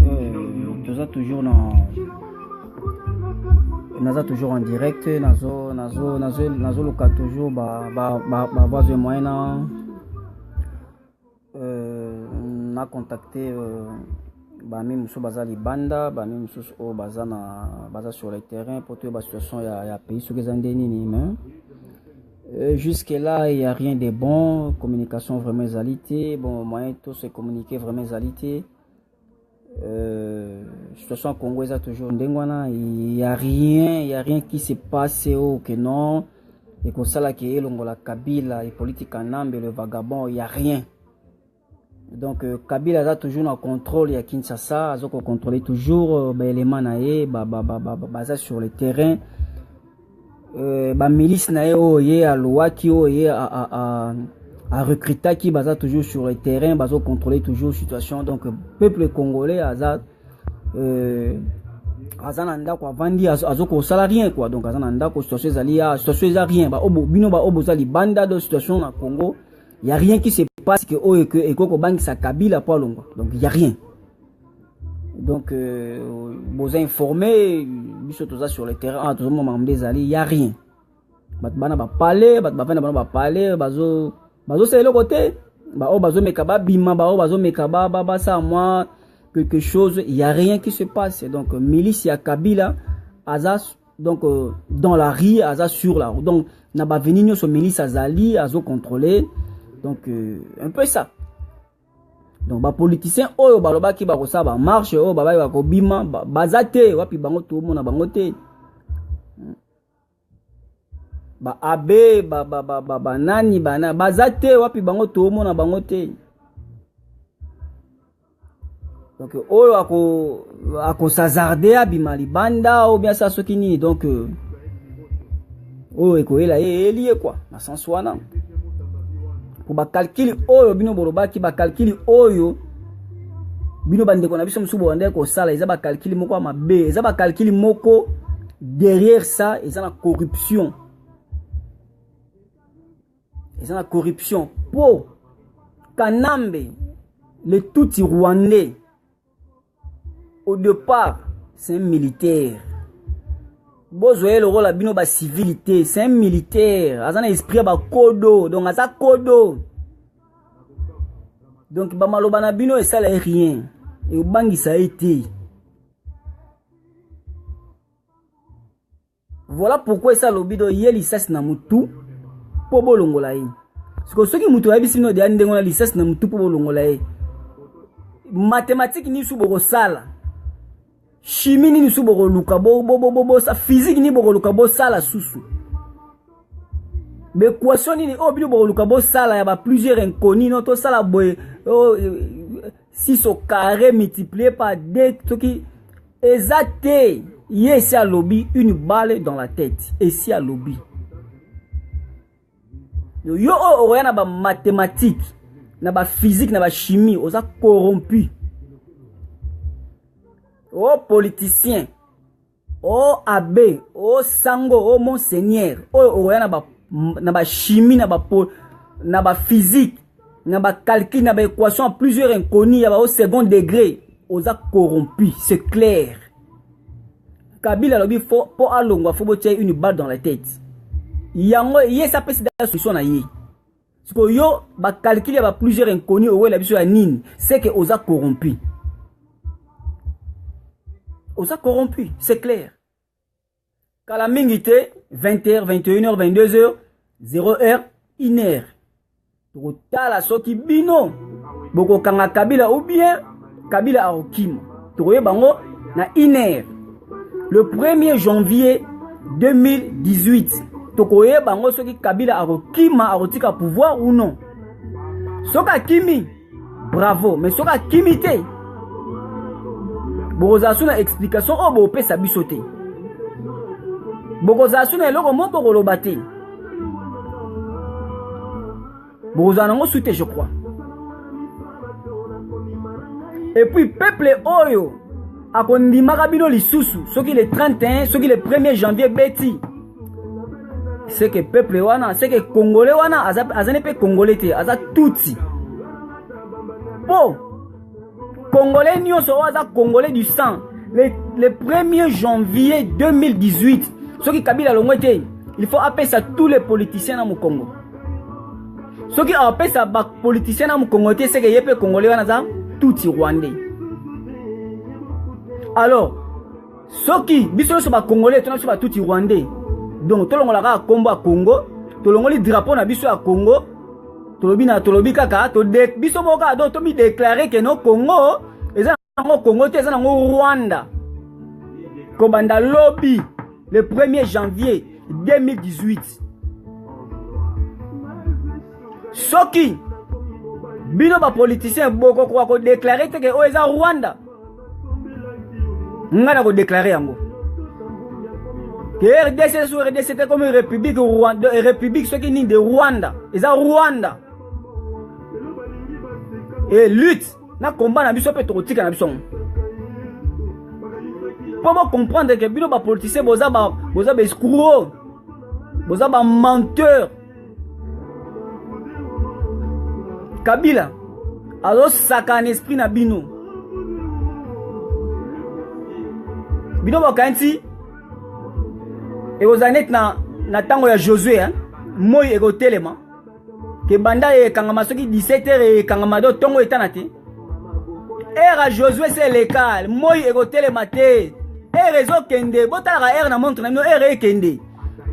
euh, toza toujours na naza toujours en direct nazo nazo nazo nazoluka toujours ba ba ba, ba voix de moyen na euh, na contacter euh, bami mosusu baza libanda bami mosusu oyo baza na baza sur le terrain mpo toyeba situation ya, ya pays soki eza nde nini mais Euh, jusque là il y a rien de bon communication vraiment ezali te bon moyen to se communiquer vraiment ezali te euh, situation ya congo eza toujours ndenge wana il y a rien il y a rien qui se passe o que non ekosala ke elongola kabila epolitika nambe le vagabond il y a rien Donc euh, Kabila aza toujours na contrôle ya Kinshasa, azo ko contrôler toujours euh, ba éléments na ye ba ba ba ba, ba, baza sur le terrain. Euh, ba milice na ye oyo ye alowaki oyo ye a, a, a, a recrutaki baza toujours sur le terrain, bazo contrôler toujours situation. Donc euh, peuple congolais aza euh, aza na ndako avandi azo kosala rien quoi donc aza na ndako situation ezali ya situation eza rien ba obo bino ba obo za libanda do situation na Congo ya rien qui se passe que oyo que eko kobangisa Kabila po alongwa donc ya rien donc euh, boza informé biso toza sur le terrain ah, tozomona makambo nde ezali ya rien bato bana bapale bato bafandi na bango bapale bazo bazosala eloko te baoyo bazomeka babima baoyo bazomeka basala mwa quelque chose ya rien qui se passe donc milice ya kabila aza donc euh, dans la rue aza sur la route donc na baveni nyonso melise azali azocontrôle donc euh, un peu ça donc bapoliticien oyo balobaki bakosala bamarche oyo babaki bakobima baza te wapi bango tomona bango te baabe banani banani baza te wapi bango tomona bango te donc oyo akosazarde abima libanda ou bien sa soki nini donc euh, oyo ekoyela ye eyeli ye kua na sens wana po bakalkili oyo bino bolobaki bakalkili oyo bino bandeko na biso mosusu bobandaki kosala eza bakalkili moko ya mabe eza bakalkili moko derrière ça eza na corruption eza na corruption po kanambe le tutsi rwandais au départ c'est un militaire bozwa ye lokola bino bacivili te c'est un militaire aza na esprit ya bakodo donc aza kodo donc bamaloba na bino esala ye rien ekobangisa ye te Voilà pourquoi esa lobi do ye lisasi na mutu po bolongola ye. Siko soki mutu ayebisi bino deya ndenge wana lisasi na mutu po bolongola ye. Mathématique nisu bokosala. Chimie nini su bokoluka bo bo bo bo bo sa physique nini bokoluka bosala susu. B'equation nini oyo bino bokoluka bosala ya ba plusieurs inconnus no tosala boye oh, 6 au carré multiplié par 2 soki eza te ye esi alobi une balle dans la tête esi alobi yo oyo oh, okoya na bamathématique na baphysique na bachimie oza corrompu o oh, politicien o oh, abe o oh, sango o oh, monseigneur oyo okoya na ba na ba chimie na ba po na ba physique na ba calcul na ba équation à plusieurs inconnus ya ba au second degré oza corrompu c'est clair kabila alobi fo mpo alongwa fo botia une balle dans la tête yango ye esi apesi da solution na ye siko yo ba calcul ya ba plusieurs inconnus owela biso ya nini c'est que oza corrompu oza corrompu c'est clair kala mingi te 20h 21h 22h 0h 1h tokotala soki bino bokokanga kabila ou bien kabila akokima tokoyeba yango na iner le 1er janvier 2018 tokoyeba yango soki kabila akokima akotika pouvoir ou non soki akimi bravo mais soki akimi te bokozala so na explication oyo bopesa biso te bokozala so na eloko moko bokoloba te bokozala nango su te je crois epuis peuple oyo akondimaka bino lisusu soki le 31 soki le 1er janvier ebeti seke peuple wana seke congolais wana azali mpe congolais te aza tutsi mpo congolais nyonso oyo aza congolais du sang le, le 1er janvier 2018 soki kabila alongwe te il faut apesa tous les politiciens na mokongo soki apesa bapoliticien na mokongo te seke ye mpe congolais wana aza tutsi rwandais alors soki biso nyonso bakongole tona biso batuti rwandais donc tolongola kaka nkombo ya congo tolongoli drapeau na biso ya congo tolobi na tolobi kaka tode biso moko kaka donc tomideklare ke no congo eza nango congo te eza nango rwanda kobanda lobi le 1er janvier 2018 soki bino bapoliticien bokokoka kodeklare te ke oyo eza rwanda ngai nakodeklare yango ke rdc so rdc te komi république rwanda eh, république soki nini de rwanda eza rwanda e lutte na komba na biso mpe tokotika na biso yango mpo bocomprendre ke bino bapoliticien boza baescro boza bamenteur kabila azosaka na esprit na bino bino bakanisi ekozala neti na, na ntango ya josue eh? moi ekotelema ke banda ekangama soki 17 heure ekangama do ntongo etana te ere ya josue se eleka moi ekotelema te ere ezokende botalaka ere na montre na bino ere ekende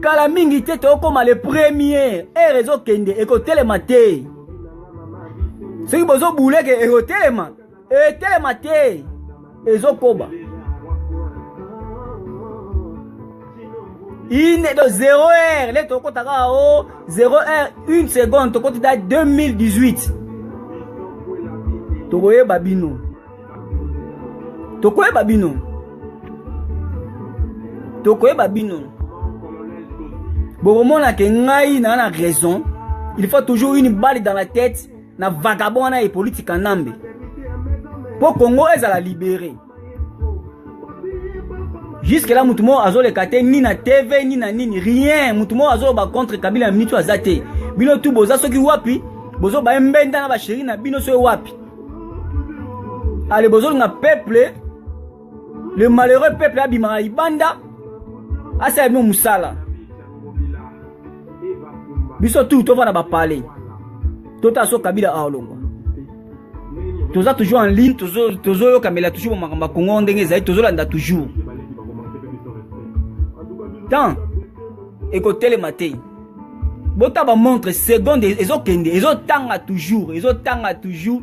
kala mingi te tokokoma le premier ere ezokende ekotelema te soki bozobuleke ekotelema etelema te ezokoba ine do 0 heure le tokota kaka o 0 heure une seconde tokoti da 2018 tokoyeba bino tokoyeba bino tokoyeba bino bokomona ke ngai naa na raison il faut toujours une balle dans la tête na vagabond wana Hippolyte Kanambe mpo Congo ezala libere jusque là motu moko azoleka te ni na tv ni na nini rien motu moko azoloba contre kabila ya mitu aza te bino tu boza soki wapi bozoba ye mbenda na basheri na bino soki wapi ale bozolinga peuple le malheureux peuple abimaka libanda asala bino mosala biso tu tovanda bapale totala so kabila aolongwa toza toujours en ligne tozoyokamela tozo toujours bamakambo ya kongo ndenge ezali tozolanda toujours temps ekotelema te botaba montre seconde ezokende ezotanga toujours ezotanga toujours